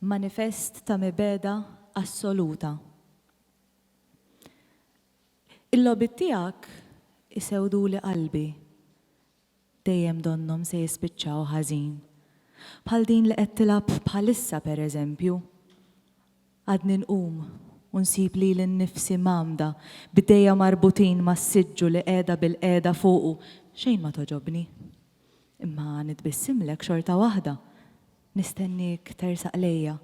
manifest ta' mibegħda assoluta. Il-logħbiet tiegħek isewduli qalbi. Dejjem donnhom se jispiċċaw ħażin. Bħal din li qed tilgħab bħalissa pereżempju. Għadni nqum u nsib lili nnifsi mgħammda, b'idejja marbutin mas-siġġu li qiegħda bilqiegħda fuqu, xejn ma togħġobni. Imma nitbissimlek xorta waħda. Nistenniek tersaq lejja.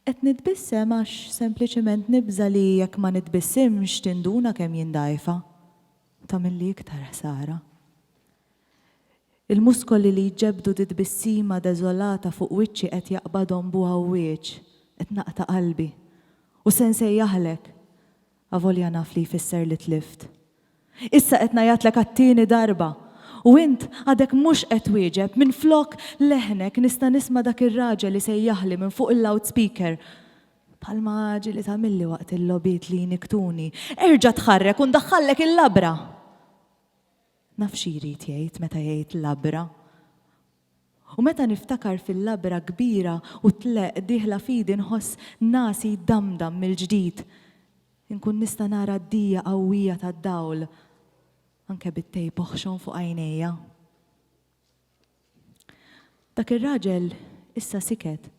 Qed nitbissem għax sempliċement nibża' li jekk ma nitbissimx tinduna kemm jien dgħajfa u tagħmilli iktar ħsara. Il-muskoli li jġebbdu dit-tbissima deżolata fuq wiċċi qed jaqbadhom b'għawwieġ. Qed naqta' qalbi. U se nsejjaħlek. Avolja naf li jfisser li tlift. Issa qed ngħajjatlek għat-tieni darba! U int għadek mhux qed twieġeb, minflok leħnek nista' nisma' dak ir-raġel isejjaħli minn fuq il-loudspeaker, bħalma ġieli tagħmilli waqt il-logħbiet li jnikktuni, Erġa' tħarrek u ndaħħallek il-labra! Naf xi jrid jgħid meta jgħid labra. U meta niftakar fil-labra kbira u tleqq dieħla f'idi nħoss nasi jdamdam mill-ġdid. Inkun nista' nara d-dija qawwija tad-dawl anke bit-tejp oħxon fuq għajnejja. Dak ir-raġel issa siket,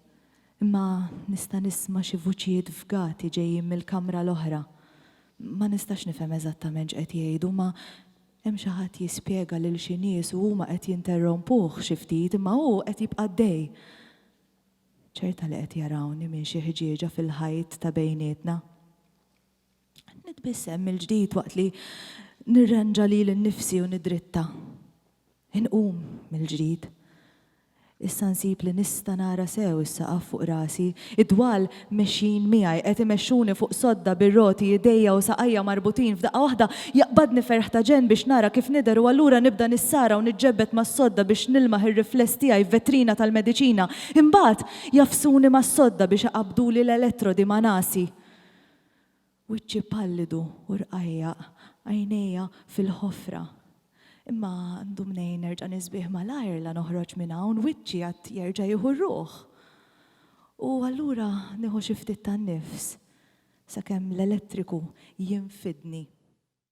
imma nista' nisma' xi vuċijiet fgati ġejjin mill-kamra l-oħra. Ma nistax nifhem eżattament x'qed jgħidu, ma Hemm xi ħadd jispjega lil xi nies u huma qed jinterrompuh xi ftit imma hu qed jibqa' għaddej. Ċerta li qed jarawni minn xi ħġieġa fil-ħajt ta' bejnietna. Nitbissem mill-ġdid waqt li nirranġa lili nnifsi u niddritta. Inqum mill-ġdid. Issa nsib li nista' nara sew is-saqaf fuq rasi. Id-dwal mexjin miegħi, qed imexxuni fuq sodda bir-roti, idejja u saqajja marbutin. F'daqqa waħda jaqbadni ferħ ta' ġenn biex nara kif nidher u allura nibda nissara u niġġebbed mas-sodda biex nilmaħ ir-rifless tiegħi f'vetrina tal-mediċina. Imbagħad jagħfsuni mas-sodda biex iqabbduli l-elettrodi ma' nasi. Wiċċi pallidu u rqajjaq, għajnejja fil-ħofra. Imma għandu mnejn nerġa' nisbieh malajr la noħroġ minn hawn, wiċċi għad jerġa' jieħu r-ruħ. U allura nieħu xi ftit tan-nifs, sakemm l-elettriku jinfidni.